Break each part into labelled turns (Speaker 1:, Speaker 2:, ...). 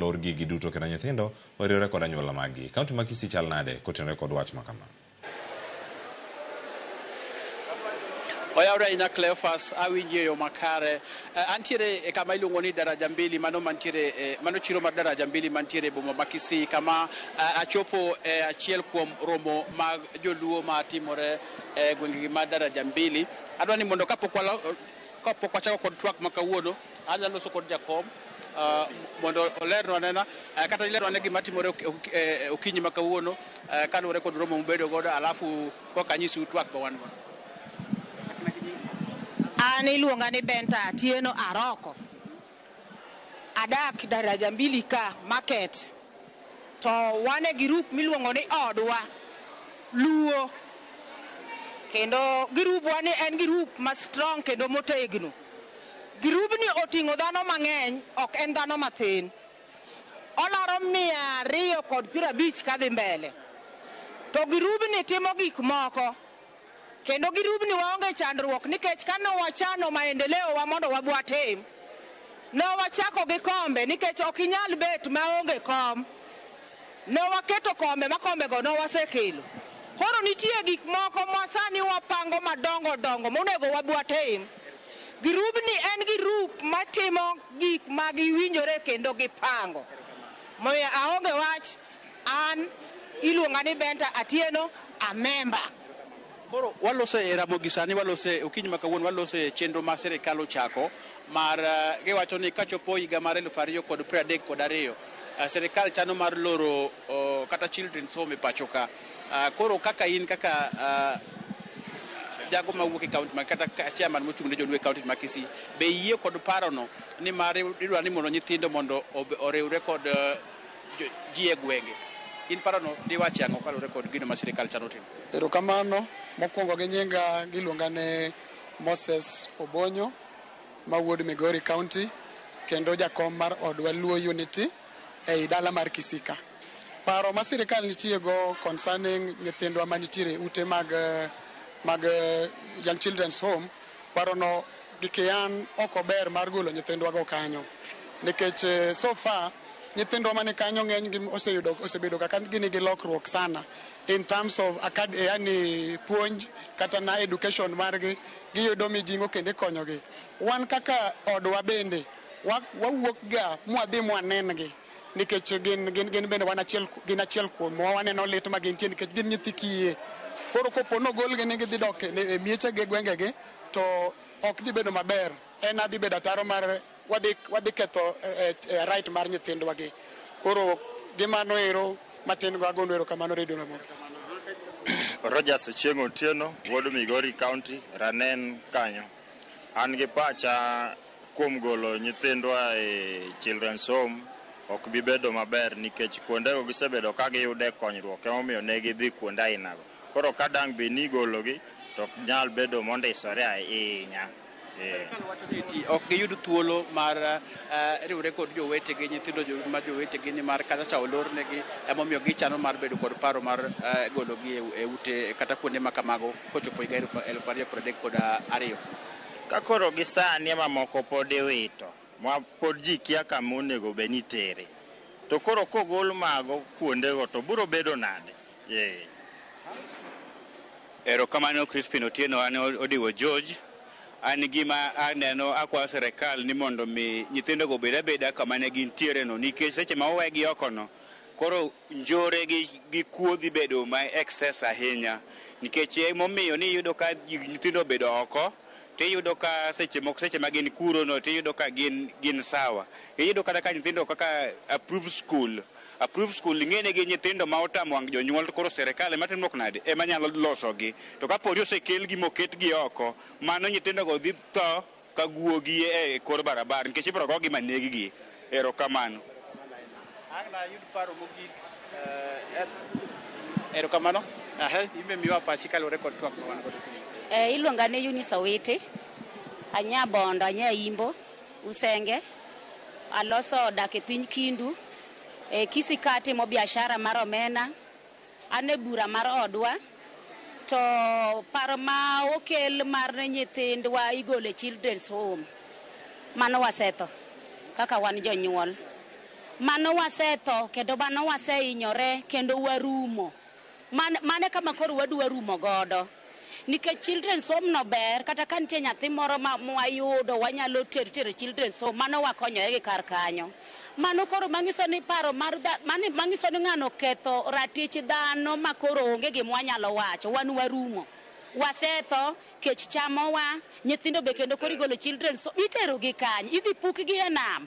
Speaker 1: lor gigi duto kendo nyithindo oriwre kod anyuola maggi. Kaunti ma Kisii chal nade kotenore kod wach ma kama?
Speaker 2: Oyawre ahinya Cleophas, awinji e yo makare. Eh, antiere e kama iluongo ni Daraja Mbili, mano mantiere eh, mano chiro mar Daraja Mbili mantiere e boma ma Kisii kama eh, achopo e achiel kuom romo mag joluo ma timore e gwengegi ma Daraja Mbili. Adwa ni mondo kapok walo Kapok wachako kod twak ma kawuono, anyalo loso kod jakom ah, mondo olernwa nena eh, kata ilerwa ne gima timore ok- ok- eh, okinyi ma kawuono eh, kaluwore kod romo mubedo godo alafu koka anyisiu twak ma wan go.
Speaker 3: An iluonga ni Benta Atieno Aroko. Adak daraja mbili ka market to wan e group miluongo ni odwa luo kendo girubwa ni en girup ma strong kendo motegno. Girubni oting'o dhano mang'eny ok en dhano mathin. Olaro mia ariyo kod piero abich kadhi mbele to girubni timo gik moko Kendo gi rubni waonge chandruok nikech ka ne wachano maendeleo wa mondo wabwatim ne wachako gi kombe nikech ok inyal bet maonge kom. Ne waketo kombe ma kombego ne wasekelo. Koro nitie gik moko ma sani wapango madongo dongo monego wabwatim. Girubni en girup matimo gik ma giwinjore kendo gipango. Omiyo aonge wach An iluonga ni Benta Atieno, a member. Koro
Speaker 2: walose e Ramogi sani walose okinyi ma kawuono walose chenro ma sirikal ochako mar eh, giwacho ni kachopo higa mar elfu ariyo kod piero adek kod ariyo eh, sirikal chano mar loro oh, kata children's home e pacho ka. Ah, Koro kaka in kaka ah, jago mawuok e kaunti ma kata ka- chairman mochung' ne joluo e kaunti ma Kisii be iyie kod parono ni mar idwa ni mondo nyithindo mondo ob- oriwre kod eh, ji e gwenge. In parono diwach ang'o kaluwore kod gino ma sirikal chano timo? Erokamano.
Speaker 4: Mokwongo gi nyinga giluonga ni Moses Obonyo ma wuod Migori County kendo jakom mar odwa Luo Unity ei dala mar Kisika. Paro ma sirikal nitiego concerning nyithindwa manitiere e ute mag mag Young Children's Home, parono Gike an ok ober mar golo nyithindwa go kanyo nikech eh, so far nyithindwa mani kanyo ng'eny gi oseyudo osebedo kaka gini gi lokruok sana in terms of acad- eh, yani puonj kata na education margi giyudo mijingo kendo ikonyogi. Wan kaka odwa bende wa- wawuokga mwadhi mwanengi nikech gin, gin, gin bende wan achiel, ku- gin achiel kuomwa waneno lit ma gintie nikech gin nyithi kiye. Koro kopo nogolgi ni gidhi dok e e miechegi e gwengegi To ok dhi bedo maber en adhi bedo ataro mar wadhi wadhi ketho eh, eh, right mar nyithindwa gi koro gi mano ero matin go agondo ero kamano redio na mondo
Speaker 5: Rogers Ochieng Otieno, wuod Migori County, Ranen kanyo. An gi pacha kuom golo nyithindwa e Children's Home ok bi bedo maber nikech kuondego gisebedo ka giyude konyruok emomiyo ne gidhi kuonde ainago. Koro ka dang' bed ni igologi to ok nyal bedo mondisore ahinya. Eh. Sirkal
Speaker 2: wacho ni eti ok giyud thuolo mar eh, riwre kod jowetegi nyithindo jo- ma jowetegi ni mar kata cha olornegi emomiyo gichano mar bedo kod paro mar eh, gologi e- e ute kata kuonde ma kamago kochopo higa elfu elfu ariyo piero adek kod ah, ariyo. Ka
Speaker 5: koro gi sani ema moko pod iwito, ma pod ji kia kama onego bed ni itere. To koro kogol mago kuondego to biro bedo nade? Yee.
Speaker 6: Erokamano Crispin Otieno an Odiwo George. An gima aneno akwayo sirkal ni mondo mi nyithindogo obed abeda kama ne gintiere no nikech seche ma owegi oko no koro njore gi kuo dhi bedo ma excess ahinya nikech emomiyo ni iyudo ka nyithindo obedo oko tiyudo ka seche moko seche ma gin kuro no tiyudo ka gin sawa. Iyudo kata ka nyithindo kaka approved school approved school ing'eni gi nyithindo ma otamo wang' jonyuol to koro serikal ema timo nade ema nyalo losogi to kaponi osekelgi moketgi oko mano nyithindogo dhi tho ka guogi e kor barabara nikech ibiro gogi ma neggi. Erokamano. Ang'
Speaker 2: na ayud paro mogik. Eh, erokamano. Ahe, imbe miwa pachi kaluwore kod twak ma wan godo. Eh, iluonga ni Eunice
Speaker 7: Owiti. Anya Bondo, anya Imbo. Usenge, aloso dak e piny Kindu, e Kisii ka atimo biashara mar omena, an e bura mar odwa to paro ma okel mar nyithindwa igolo e children's home mano wasetho kaka wan jonyuol. Mano wasetho kendo mano wasehinyore kendo warumo. Man, mane kama koro wadwa rumo godo nikech children's home no ber kata ka nitie nyathi moro ma mwayudo wanyalo ter tere children's home mano wakonyore gi kar kanyo mano koro manyiso ni paro mar dha- mani- manyiso ni ng'ano ketho ratich dhano ma koro onge gima wanyalo wacho wan warumo wasetho kech chamowa nyithindo be kendo koro igolo children's home itero gi kany idhi pukgi e nam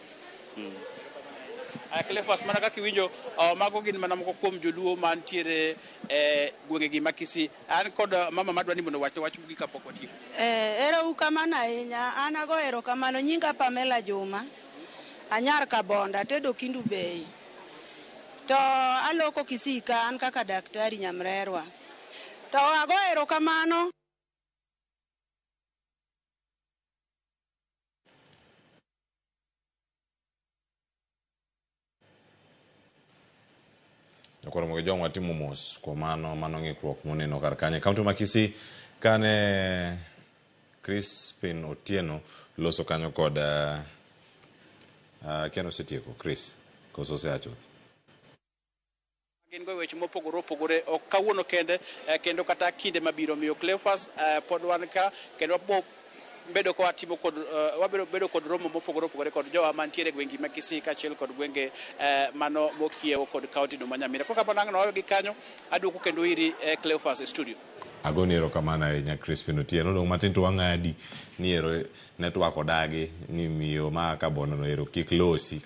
Speaker 2: Aya, Cleophas, mana kaka iwinjo uh, mago gin mana moko kuom joluo mantiere e gwengegi ma Kisii. An kod uh, mama madwa ni mondo wach wach mogik kapok watieko. Eh, ero ukamano
Speaker 3: ahinya. An ago erokamano. Nyinga Pamela Juma. Anyar Kabonda, atedo Kindu Bay. To aloko Kisii ka an kaka daktari Nyamrerwa. To ago erokamano.
Speaker 1: koro mogo jong watimo mos kuom mano mano ng'ikruok moneno kar kanyo kaunti ma Kisii kane Crispin Otieno loso kanyo kod uh, uh, Ken osetieko Chris koso oseachuth
Speaker 2: Gin go e weche mopogore opogore, ok kawuono kende eh, kendo kata kinde mabiro. Miyo Cleophas, eh, pod wan ka kendo wabo bedo ka watimo kod eh, wabiro bedo kod romo mopogore opogore kod jowa mantiere e gwengi ma Kisii kaachiel kod gwenge eh, mano mokiewo kod kaunti no ma Nyamira. Koro kamano ang' nawayo gi kanyo, aduogo kendo iri eh, Cleophas e studio. agoni erokamano
Speaker 1: ahinya crispin otieno dong' matin to wang'adi ni ero netwak odagi ni miyo ma kabonono ero kik losi